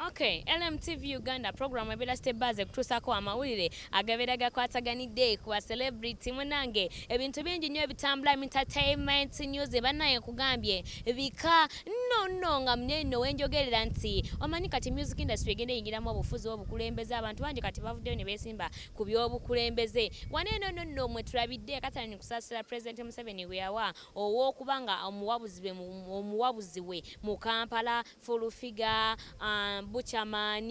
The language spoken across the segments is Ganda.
Okay, LMTV Uganda program ebera step baze kutusako amawulire agabera gakwataganidde ku ba celebrity munange ebintu bingi nyo ebitambula entertainment news banaye kugambye bika no no nga mneno wenjogerera nti omanyi kati music industry egenda eyingiramu obufuzi obukulembeze abantu bangi kati bavuddeyo ne besimba ku byobukulembeze waneno no no mwe tulabidde katalani kusasira president Museveni gwe yawa ow'okuba nga omuwabuzi be mu omuwabuzi we mu Kampala, Full Figure, Buchaman,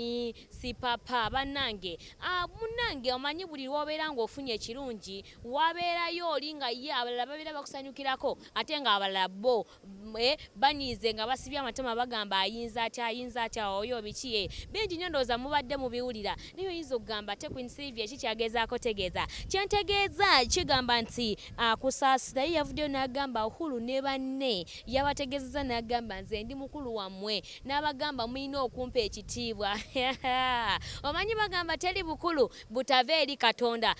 Sipapa banange aah munange omanyi buli lwobeera nga ofunye ekirungi wabeerayo oli nga ye abalala babeera bakusanyukirako ate nga abalala bbo eeh banyiize nga basibye amatama bagamba ayinza atya ayinza atya ooyoo biki eeh bingi nnyo ndowooza mubadde mubiwulira Naye oyinza okugamba ate Queen Sylvia ki kyagezaako tegeeza. Kye ntegeeza kigamba nti ah, Kusaasira ye yavuddeyo n'agamba Uhuru ne banne yabategeezezza n'agamba nze ndi mukulu wammwe n'abagamba mulina okumpa ekitiibwa. Omanyi bagamba teri bukulu butava eri Katonda.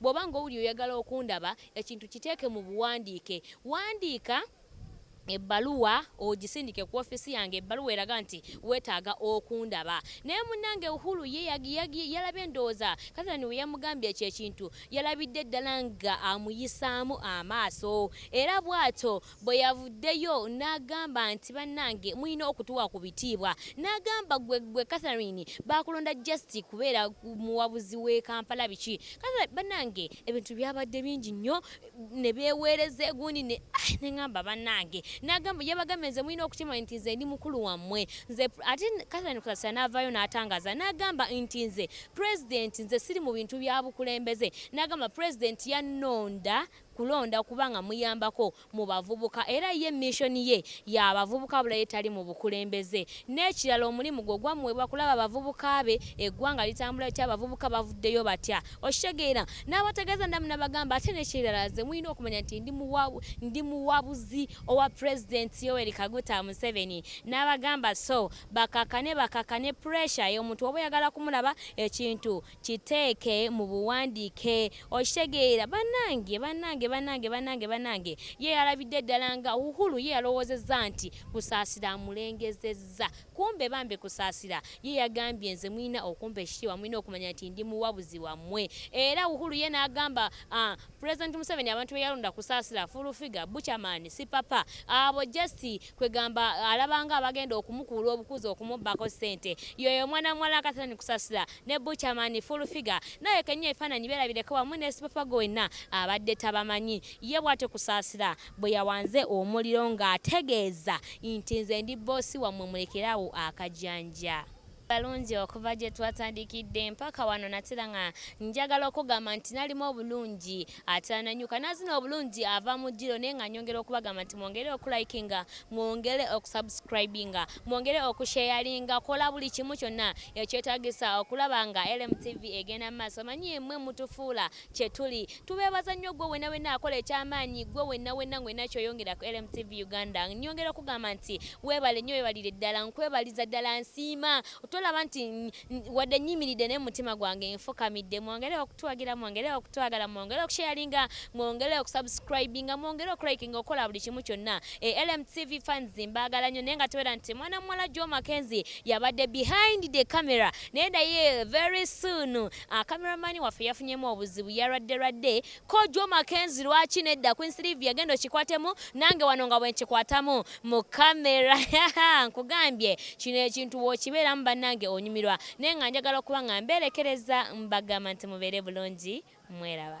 Bw'oba ng'owulira oyagala okundaba, ekintu kiteeke mu buwandiike. Wandiika ebbaluwa ogisindike ku ofiisi yange, ebbaluwa eraga nti weetaaga okundaba. Naye munnange Uhuru ye yalabye ndowooza Catherine we yamugambye ekyo ekintu, yalabidde ddala ng'amuyisaamu amaaso era bw'atyo Bwe yavuddeyo n'agamba nti, Bannange mulina okutuwa ku bitiibwa. N'agamba, Ggwe, ggwe Catherine, baakulonda just kubeera muwabuzi w'e Kampala biki? Catherine, bannange ebintu byabadde bingi nnyo, ne beeweereza egundi ne, ah, ne ngamba, Bannange! N'agamba, Yabagambye, Nze mulina okukimanya nti nze ndi mukulu wammwe. Nze pre-. Ate Catherine Kusasira n'avaayo n'atangaaza n'agamba nti, Nze Pulezidenti, nze siri mu bintu bya bukulembeze. N'agamba, Pulezidenti yannonda. kulonda kuba nga muyambako mu bavubuka era ye mission ye ya bavubuka wabula ye tali mu bukulembeze n'ekirala omulimu gwo gwamuweebwa kulaba bavubuka be eggwanga litambula litya abavubuka bavuddeyo batya okitegeera n'abategeeza namu nabagamba ate n'ekirala nze mulina okumanya nti ndi muwa ndi muwabuzi owa president Yoweri Kaguta Museveni n'abagamba so bakakane bakakane pressure y'omuntu oba oyagala kumulaba ekintu Kiteeke mu buwandiike. Okitegeera? Bannange! Bannange! Bannange! Bannange! Bannange! Ye yalabidde ddala nga, Uhuru ye yalowoozezza nti Kusaasira amulengezezza. Kumbe bambi Kusaasira ye yagambye nze mulina okumpa ekitiibwa, mulina okumanya nti ndi muwabuzi wammwe. Era Uhuru ye n'agamba, ah, President Museveni abantu beyalonda kusaasira full figure buchaman si papa abo just kwegamba alabanga abagenda okumukuula obukuzi okumubbako sente yoyo omwana muwala akatalani kusasira ne buchaman full figure naye kenya ebifaananyi berabireko wamu ne sipapa gwe wenna abadde tabamanyi ye bwatyo kusaasira bwe yawanze omuliro ng'ategeeza nti nze ndi boss wammwe mulekere awo akajanja. balungi okuva gye twatandikidde mpaka wano natera nga njagala okugamba nti nalimu obulungi atera nanyuka nazina obulungi ava mu ddiro naye nga nyongera okubagamba nti mwongere okulikinga mwongere okusubscribinga mwongere okusheyalinga kola buli kimu kyonna ekyetagisa okulaba nga LMTV egenda mu maaso manyi yemwe mutufuula kye tuli. Tubeebaza nnyo ggwe wenna wenna akola eky'amaanyi, ggwe wenna wenna ng'olina ky'oyongera ku LMTV Uganda. Nnyongera okukugamba nti weebale nnyo, weebalire ddala, nkwebaliza ddala, nsiima. Tolaba nti wadde nnyimiridde naye mu mutima gwange nfukamidde. Mwongere okutuwagira, mwongere okutwagala, mwongere okusheyalinga, mwongere okusubscribinga, mwongere okulikinga, okukola buli kimu kyonna. E LMTV fans mbaagala nnyo naye nga tobeera nti mwana muwala Joe Mackenzie yabadde behind the camera. Naye naye very soon A camera man waffe yafunyemu obuzibu yalwadde lwadde kojwa makenzi lwaki nedda queen Sylvia genda okikwatemu nange wano nga bwenkikwatamu mu camera nkugambye kino ekintu bwokibeeramu banange onyumirwa naye nga njagala okuba nga mberekereza mbagamba nti mubeere bulungi mweraba.